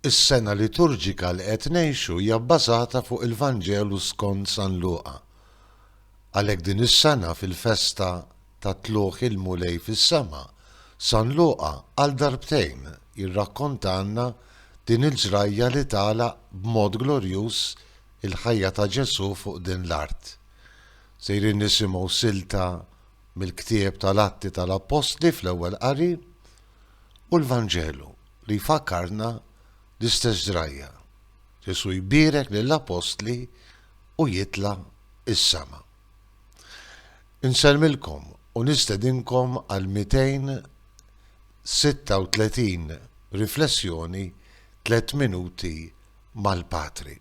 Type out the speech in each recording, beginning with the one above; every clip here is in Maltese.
Is-sena liturġika li qed ngħixu hija bbażata fuq il-Vanġelu skont San Luqa. Għalhekk din is-sena fil-festa ta' Tlugħ il-Mulej fis-sema, San Luqa għal darbtejn jirrakkontalna din il-ġrajja li tagħlaq b'mod glorjuż il-ħajja ta' Ġesù fuq din l-art. Sejrin nisimgħu silta mill-ktieb tal-Atti tal-Appostli fl-Ewwel Qari u l-Vanġelu li jfakkarna l-istess ġrajja, Ġesù jbierek lill-Appostli u jitla' is-sema. Insellmilkom u nistedinkom għal 236 riflessjoni tliet minuti mal-Patri.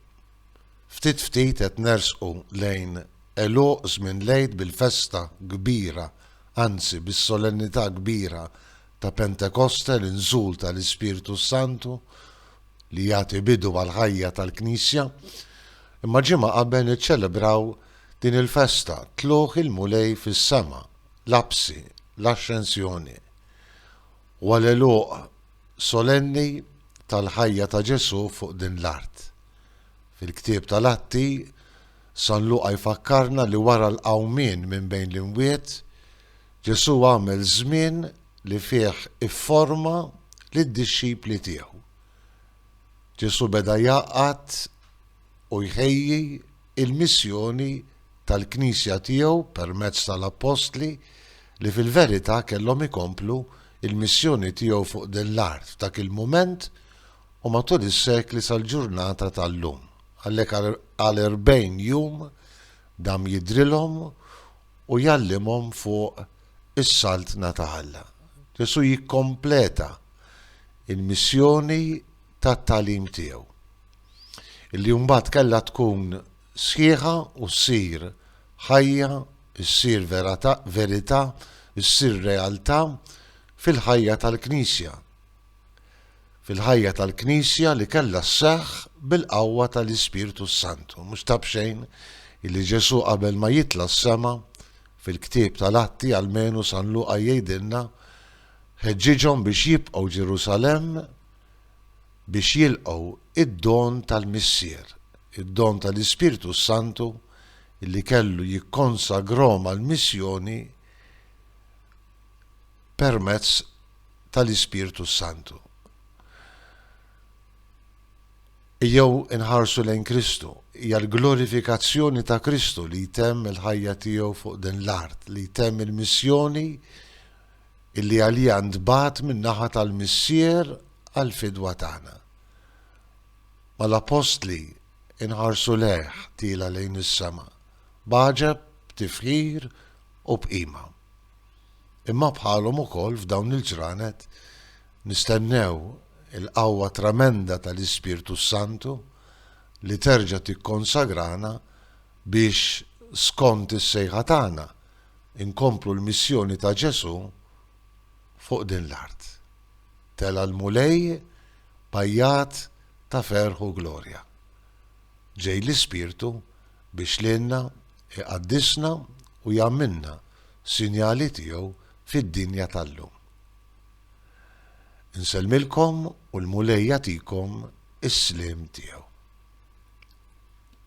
Ftit ftit qed nersqu lejn għeluq żmien l-Għid bil-festa kbira, anzi bis-solennità kbira ta' Pentekoste, l-inżul tal-Ispirtu s-Santu li jagħti bidu għall-ħajja tal-Knisja. Imma ġimgħa qabel niċċelebraw din il-festa, Tlugħ il-Mulej fis-sema, l-Apsi, l-Axxensjoni. U għal għeluq solenni tal-ħajja ta' Ġesù fuq din l-art. Fil-ktieb tal-Atti, San Luqa jfakkarna li wara l-qawmien minn bejn l-imwiet, Ġesù għamel żmien li fih ifforma lid-dixxipli tiegħu. Ġesù beda jgħaqqad u jħejji il-missjoni tal-Knisja tiegħu permezz tal-Appostli li fil-verità kellhom ikomplu l-missjoni tiegħu fuq din l-art f'dak il-mument u matul is-sekli sal-ġurnata tal-lum. Għalhekk għal erbgħin jum dam jidhrilhom u jgħallimhom fuq is-Saltna ta' Alla. Ġesù jikkompleta l-missjoni tat-tagħlim tiegħu. illi mbagħad kellha tkun sħiħa u ssir ħajja, issir verità, issir realtà fil-ħajja tal-Knisja. Fil-ħajja tal-Knisja li kellha sseħħ bil-qawwa tal-Ispirtu s-Santu. Mhux ta' b'xejn illi Ġesu qabel ma jitla s-sema fil-ktieb tal-atti għal-menu San Luqa jgħidilna ħeġġiġhom biex jibqgħu Ġerusalem biex jilqgħu d-don tal-Missier, id-don tal-Ispirtu s-Santu li kellu jikkonsagrhom għall-missjoni permezz tal-Ispirtu s-Santu. Ejjew inħarsu lejn Kristu, hija l-glorifikazzjoni ta' Kristu li jtemm il-ħajja tiegħu fuq din l-art, li jtemm il-missjoni illi għaliha ntbagħat min-naħa tal-Missier għall-fidwa tagħna. Ma l-Appostli nħarsu lejh tiela' lejn is-sema, b'għaġeb, b'tifħir u b'qima. Imma bħalhom ukoll f'dawn il-ġranet nistennew il-qawwa tremenda tal-Ispirtu s-Santu li terġa' tikkonsagrana biex, skont is-sejħa tagħna, inkomplu l-missjoni ta' Ġesù fuq din l-art. Tela' l-Mulej b'għajjat ta' ferħ u glorja. Ġej l-Ispirtu biex lilna iqaddisna u jagħmilna sinjali tiegħu fid-dinja tal-lum. Insellmilkom u l-Mulej jagħtikom is-sliem tiegħu.